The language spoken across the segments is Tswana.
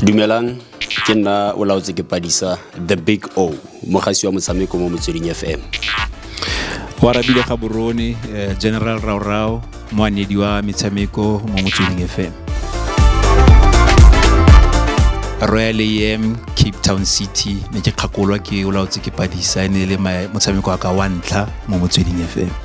dumelang ke nna o laotse ke padisa the big o mogasi wa motshameko mo motsweding fm wa rabile ga borone eh, general raorao moanedi wa metshameko mo motsweding fm royal am cape town city ne ke kgakolwa ke o laotse ke padisa e ne e le motshameko wa ka wa ntlha mo motsweding fm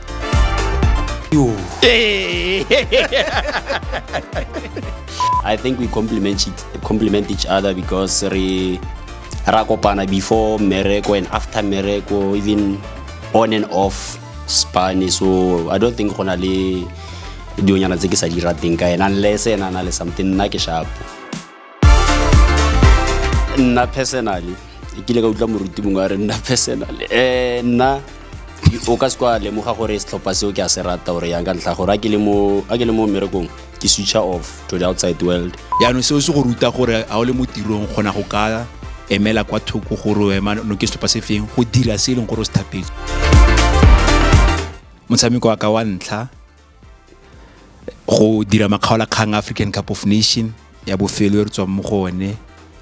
I think we complement each, complement each other because re ra kopana before mereko and after mereko even on and off spane so I don't think go na le dionyana tse ke sa di rateng ka ena unless ena na le something nna ke shapo nna personally e kile ka utlwa moruti mongwe a re nna personally um nna o ka se kwa lemoga gore setlhopha seo ke a se rata gore yang ka ntlha gore a ke le mo mmerekong ke switcha off to the outside world yaanong seo se go ruta gore a o le mo tirong kgona go ka emela kwa thoko gore ema no ke setlhopha se feng go dira se e leng gore o se thapetse motshameko wa ka wa ntlha go dira makgaolakgang african cup of nation ya bofelo e re tswang mo go one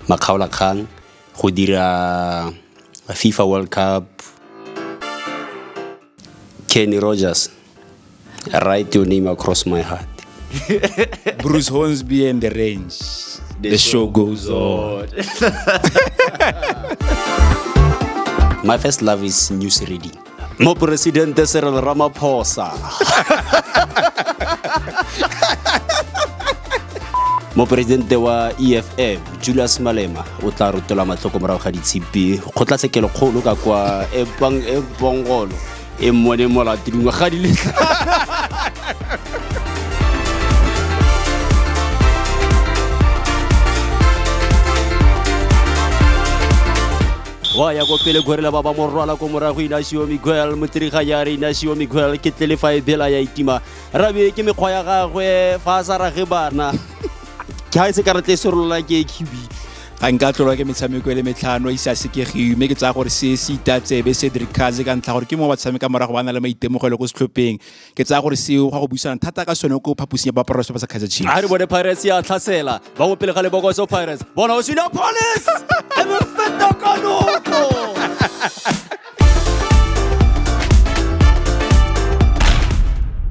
makgaolakgang go dira fifa world cup kenny rogers write your name across my heart bruce hornsby and the range the, the show goes on my first love is news reading moporesidente serel ramaphosa moporesidente wa eff julius malema o tla rotola matlhoko morago ga ditshipi kgotlatshekelo kgolo ka kwa ebongolo e mmone molato dingwaga di le wa ya ko pele gorela ba ba mo rwala ko morago inasio miguel motirega ya re inasio miguel ke tlele fa e bela ya itima rabe ke mekgwa ya gagwe fa a sa rage bana ke ga e se karata e serolola ke kibi ga nka tlolwa ke metshameko e le metlhano e sa sekegiwe mme ke tsaya gore se se itatsebe cedric kaze ka ntlha gore ke mo ba tshameka morago ba na le maitemogelo ko setlhopheng ke tsaya gore seo ga go buisana thata ka sone ko phaposing ya baporofeso ba sa kaizer chiefs a re bone pirates ya tlhasela ba go pele ga lebokoso pirates bona o sina police e be feta ka noko